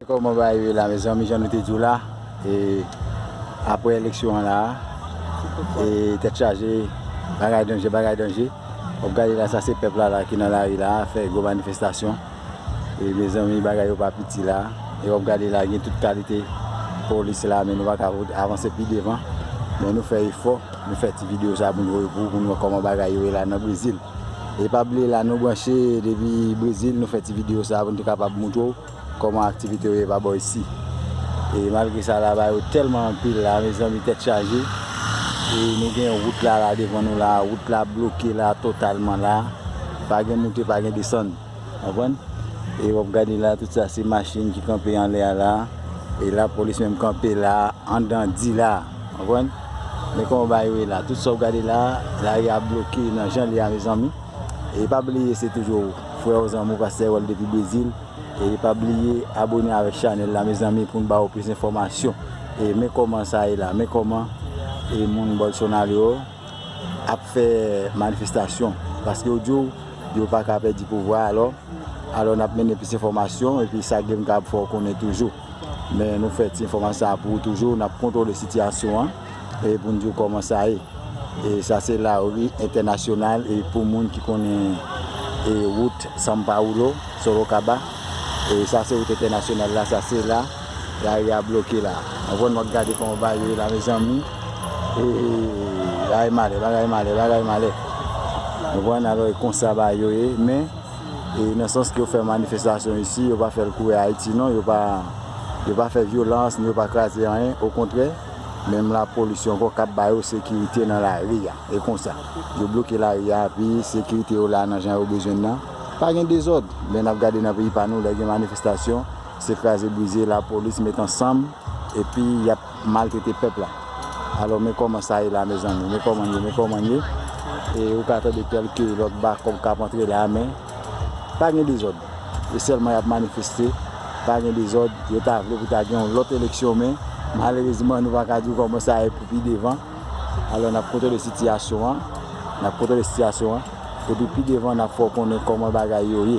Koman bagay ye la mezanmi jan nou te diw la e aprè eleksyon an la e tèt chaje bagay danje bagay danje wap gade la sa se pèp la la ki nan lari la fè gwo manifestasyon e mezanmi bagay yo pa piti la e wap gade la gen tout kalite polis la men nou paka avanse pi devan men nou fè efò nou fè ti video sa pou nou voye pou ou pou nou wè koman bagay yo ye la nan brezil e pa bliye la nou branche depi brezil nou fè ti video sa pou nou te kapab moutrew. Koman aktivite yo ye pa bò isi. E malgre sa lava yo telman anpil la mezanmi tèt chaje e nou gen wout la la devan nou la wout la bloke la totalman la pa gen moute pa gen desann konprann e wap gade la tout sa se machin ki kanpe anlè a la e lapolis menm kanpe la andan di la konprann men koman bagay yo ye la tout sa wap gade la lari a bloke nan jan li a mezanmi e pa bliye se toujou. Freo zanmi pastè wèl depi brezil e pa bliye abone avèk chanèl la mezanmi poun ba ou plis enfòmasyon e men kòman sa ye la men kòman e moun bolsonaro ap fè manifestasyon paske yo diw yo paka pèdi pouvwa alò alò nap mennen plis enfòmasyon epi sa gem kapab fè ou konnen toujou. Men nou fè ti enfòmasyon sa a pou ou toujou, n ap kontwole sitiyasyon an e pou n di w kòman sa ye. E sa se lari entènasyonal e pou moun ki konnen e wout San Paulo, Sorocaba, e sa se wout entènasyonal la, sa se la lari a bloke la. Anvan nou gade kòman bagay ye la mezanmi, e bagay malè, bagay malè, bagay malè. Nou konn alò e konsa bagay yo ye men. E nan sans ke yo fè manifestasyon isi, yo pa fè l kouwè Ayiti non, yo pa fè vyolans, ni yo pa kraze anyen, okontrè, menm lapolis yo ankò k ap ba yo sekirite nan lari a. E konsa, yo bloke lari a, api sekirite yo la nan jan yo bezwen l lan. Pa gen dezòd, men n ap gade nan peyi pa nou, lè gen manifestasyon, se kraze brize, lapolis met ansanm, epi y ap. maltrete pèp la alò men kòman sa ye la mezanmi men kòman n ye men kòman n ye e ou ka tande kèlke lòt bakòk k ap antre la a men pa gen dezòd e sèlman y ap manifeste pa gen dezòd yo ta vle pou ta gen yon lòt eleksyon men malerezman nou pa ka di w kòman sa ye pou pi devan alò n ap kontwole sitiyasyon an n ap kontwole sitiyasyon an. Epi pi devan nap fè w konnen kòman bagay yo ye.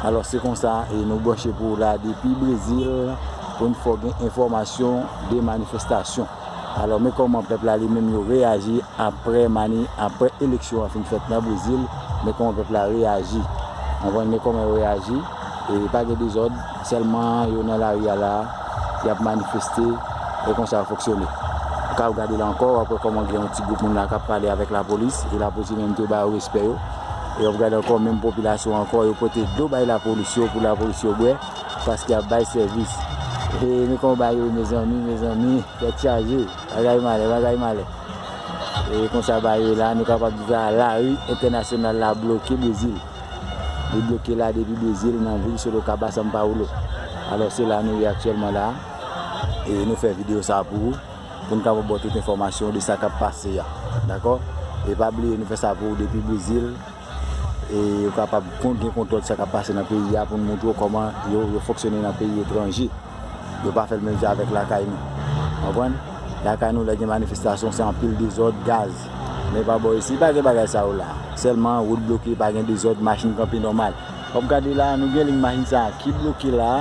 Alòs se konsa e nou branche pou w la depi Brezil pou n fè w gen enfòmasyon de manifestasyon. Alò men kòman pèp la li menm yo reyaji aprè mani aprè eleksyon an fin fèt nan Brezil men kòman pèp la reyaji. Anvan men kòman yo reyaji e pa gen dezòd. Sèlman yo nan lari a la a, y ap manifeste, e konsa yo fonksyone. Ou ka al gade la ankò, w ap wè kòman gen yon ti gwoup moun la k ap pale avèk lapolis, e lapolis yo menm tou ba yo respè yo. E w ap gade ankò menm popilasyon an ankò, yo pote dlo bay lapolis yo pou lapolis yo bwè, paske y ap bay sèvis. E men kòman bagay yo ye mezanmi, mezanmi, tèt chaje, bagay malè, bagay malè. E konsa bagay yo ye la a, nou kapab di sa a, lari entènasyonal la bloke Brezil. Li bloke la depi Brezil nan vil Sorocaba, São Paulo. Alò se la nou ye aktyèlman la e nou fè videyo sa pou ou pou nou kapab ba w tout enfòmasyon de sa k ap pase a. Dakò? E pa bliye nou fè sa pou ou depi Brezil e ou kapab gen kontwòl sa k ap pase nan peyi a pou nou montre w kòman yo fonksyone nan peyi etranje. Yo pa fèl menm jan avèk lakay nou. Konprann? Lakay nou lè gen manifestasyon se anpil dezòd, gaz. Men pa bò isi pa gen bagay sa yo la. Sèlman wout bloke pa gen dezòd, machin kanpe nòmal. Wap gade la nou gen liy machin sa ki bloke la.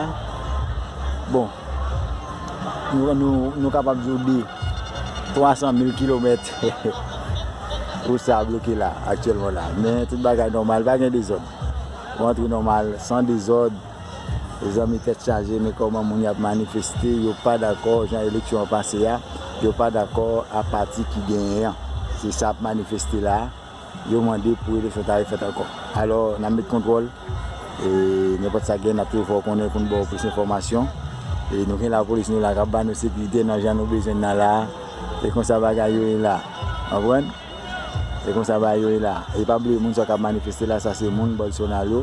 Bon nou kapab di w de 300 mil kilomèt wout sa bloke la aktyèlman la. Men tout bagay nòmal pa gen dezòd. Ou antre nòmal san dezòd. Mezanmi tèt chaje men kòman moun yap manifeste yo pa dakò jan eleksyon an pase a yo pa dakò a pati ki genyen an se sa ap manifeste la yo mande pou eleksyon ta refèt ankò alò nap met kontwòl e nenpòt sa gen nap toujou fè w konnen pou nou ba w plis enfòmasyon e nou gen lapolis nou la kap ba nou sekirite nan jan nou bezwen nan la e konsa bagay yo ye la w konprann. E konsa bagay yo ye la. E pa bliye moun sa yo kap manifeste la sa se moun Bolsonaro,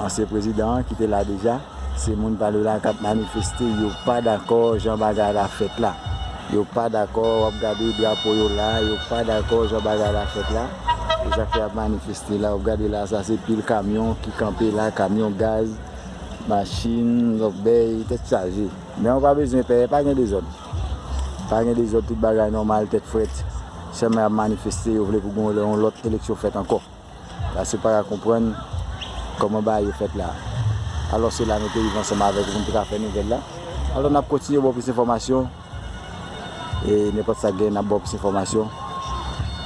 ansyen prezidan an ki te la deja, se moun pa li yo la kap manifeste yo pa dakò jan bagay la fèt la. Yo pa dakò wap gade drapo yo la, yo pa dakò jan bagay la fèt la. Se sak fè yap manifeste la. Wap gade la sa se pil kamyon ki kanpe la, kamyon gaz, machin, lòbèy, tèt chaje. Men ou pa bezwen pè, pa gen dezòd. Pa gen dezòd tout bagay nòmal tèt frèt sèl men ap manifeste yo vle pou gen yon lòt eleksyon fèt ankò la se pa konprann kòman bagay yo fèt la alò se la nou te rive ansanm avèk ou pou nou te ka fè nouvèl la alò nap kontinye baw plis enfòmasyon e nenpòt sa gen nap baw plis enfòmasyon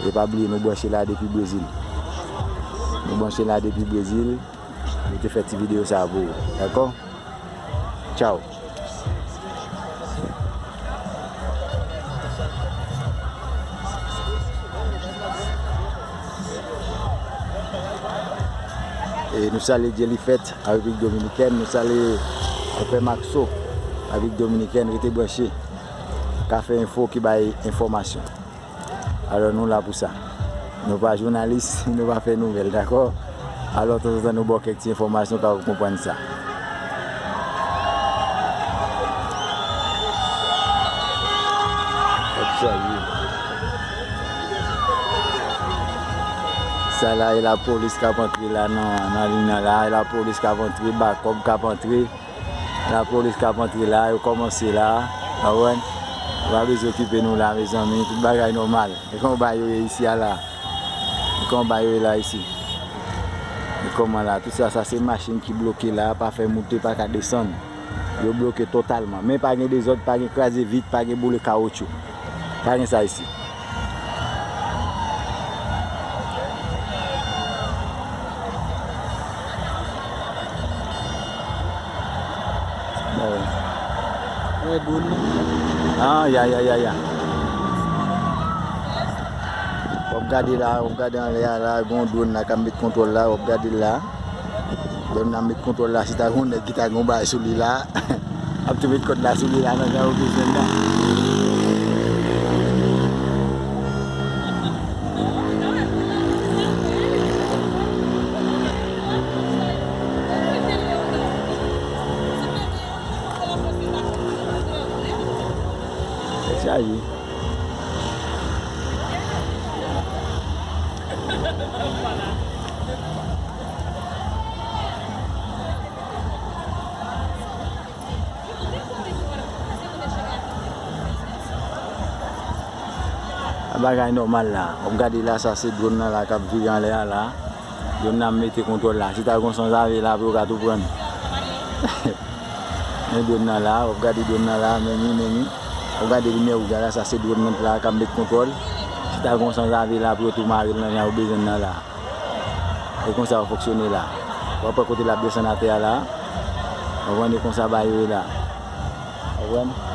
e pa bliye nou branche la depi brezil nou branche la depi brezil nou te fè ti video sa pou ou dakò tchaw. Nou salye Dyelifèt a Repiblik Dominikèn, nou salye Konpè Makso a Repiblik Dominikèn, rete branche, Café Info ki bay enfòmasyon. Alò nou la pou sa. Nou pa jounalis, nou pa fè nouvèl dakò. Alò tanzantan nou ba w kèk ti enfòmasyon ka w konprann sa. Sa la e lapolis k ap antre la nan lina la. E lapolis k ap antre, bakòp k ap antre. La police kap antre la yo komanse la konprann yo pa bezwen okipe nou la mezanmi tout bagay nòmal e kòman bagay yo ye isi a la e kòman bagay yo ye la isi e kòman la tout sa sa se machin ki bloke la pa fè moute pa ka desann yo bloke totalman men pa gen dezòd pa gen kraze vit pa gen boule kawotchou. Pa gen sa isit. Wap gade la, wap gade anlè a la, gon drone la kap met kontwòl la, wap gade la. Dèm nan met kontwòl la si ta gen yon nèg ki ta gen yon bagay sou li la ap tou met kòd la sou li la nan jan yo bezwen l la. Chaje. Bagay nòmal la, wap gade la sa se dron nan la kap vire anlè a la, dron nan mete kontwòl la, si ta gon sanzave la apre yo ka tou prann, men dron nan la, wap gade dron nan la, menni menni. Ou gade limyè wouj la la sa se drone nan la kap met kontwòl si ta gon sanzave la pou yo tou marel nan jan yo bezwenn nan la e konsa yo fonksyone la wap wè kote lap desann atè a la ou konprann e konsa bagay yo ye la ou konprann.